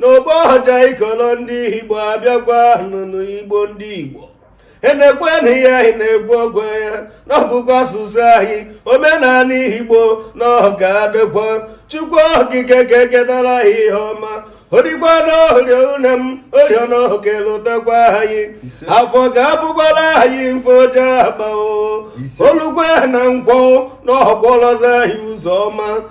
n'ọgbọ ọja ikolo ndị igbo abịakwanụnụ igbo ndị igbo enekwenụ ihe anyị na-ekwu okwu ya na ọ bụkwa asụsụ anyị omenala igbo na ọ ga-adịkwa chukwu okike eke ketara anyị ihe ọma o rukwa na orie une m orie na ọ ga-elotakwa anyị afọ ga-abụkwara anyị mfọju akpa o o lukwe na nkwọ na ọ kwọlọzi anyị ụzọ ọma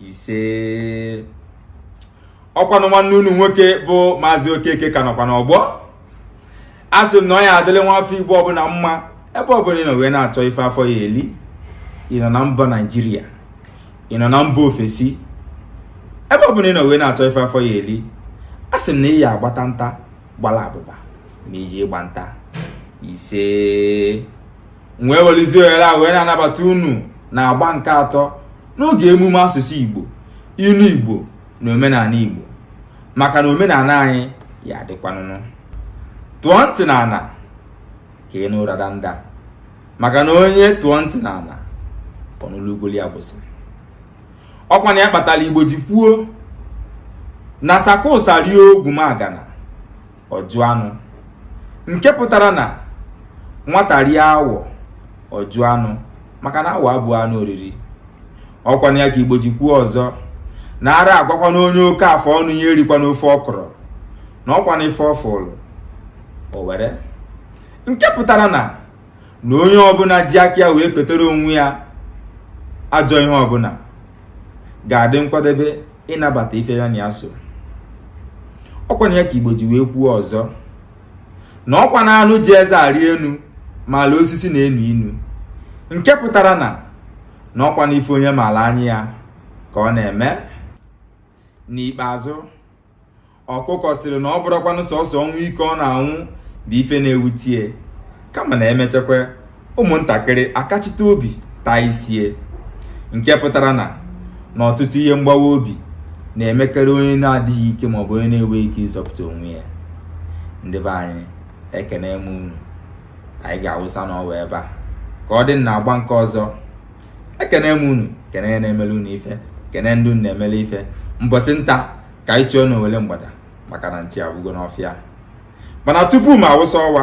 ise ọkwanụ nwanne unu nwoke bụ maazị okeke ka nọkwa n'ọgbọ a sị m na ọ ya adịlị nwa afọ igbo ọbụla mma ebe ọbụla ị nọ wee na-achọ ife afọ ya eli ị nọ na mba naijiria ị nọ na mba ofesi ebe ọ bụla ị nọ wee na-achọ ife afọ ya eli a sị m na ị ya agbata nta gbala abụba ma i je ịgba nta ise m wee welizie ohere a wee na-anabata unu na agba nke atọ n'oge emume asụsụ Igbo ilu Igbo na omenala Igbo maka na omenala anyị ya adịkwanụnụ tụọ ntị n'ala ka ị nụ ụra danda maka na onye tụọ ntị n'ala ọ nụlụ ugoli agbụsị ọkwanụ ya kpatara Igbo ji kwuo na sakosa rie ogwumagana ọ jụ anụ nke pụtara na nwata rie awọ ọ jụ anụ maka na awọ abụrọ anụ oriri ọkwanụ ya ka igbo ji kwuo ọzọ na ara agwakwanụ onye oke afọ ọnụ ya erikwana ofe ọkụrụ na ọkwanụ ife ọ fụlụ o were nke pụtara na na onye ọbụla ji aka ya wee kotere onwe ya ajọ ihe ọbụla ga-adị nkwadebe ịnabata ife ya na ya so ọkwanụ ya ka igbo ji wee kwuo ọzọ na ọkwanụ anụ ji eze arị enu maala osisi na-enu inu nke pụtara na na ọkwanụ ife onye maala anya ya ka ọ na-eme n'ikpeazụ ọkụkọ sịrị na ọ bụrọkwanụ sọsọ ọnwụ ike ọ na-anwụ bụ ife na-ewute ya kama na e mechakwa ụmụntakịrị akachite obi taa isi ya nke pụtara na na ọtụtụ ihe mgbawa obi na-emekarị onye na-adịghị ike maọbụ onye na-enweghị ike ịzọpụta onwe ya ndị be anyị ekene m unu anyị ga-awụsa n'ọwa ebe a ka ọ dị na agba nke ọzọ ekene m unu kene ndị na-emele unu ife kene ndị unu na-emele ife mbọsị nta ka anyị chụọ na owele mgbada maka na nchi agwụgo n'ọfịa mana tupu m awụsa ọwa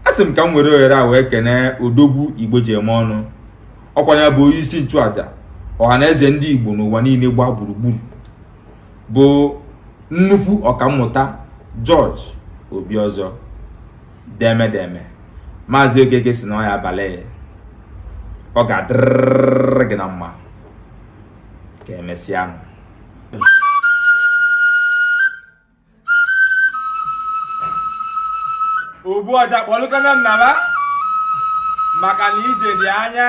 a sị m ka m were ohere a wee kene odogwu igbo ji eme ọnụ ọkwa ya bụ onye isi nchụaja ọha na eze ndị igbo n'ụwa niile gbaa gburugburu bụ nnukwu ọkammụta George Obiozor deeme deeme maazị Okeke sị na ọ ya abalị ọ ga-adịrịrị gị na mma ka emesịa ogbu ọja kpọlụkwanụ m naba maka na ije dị anya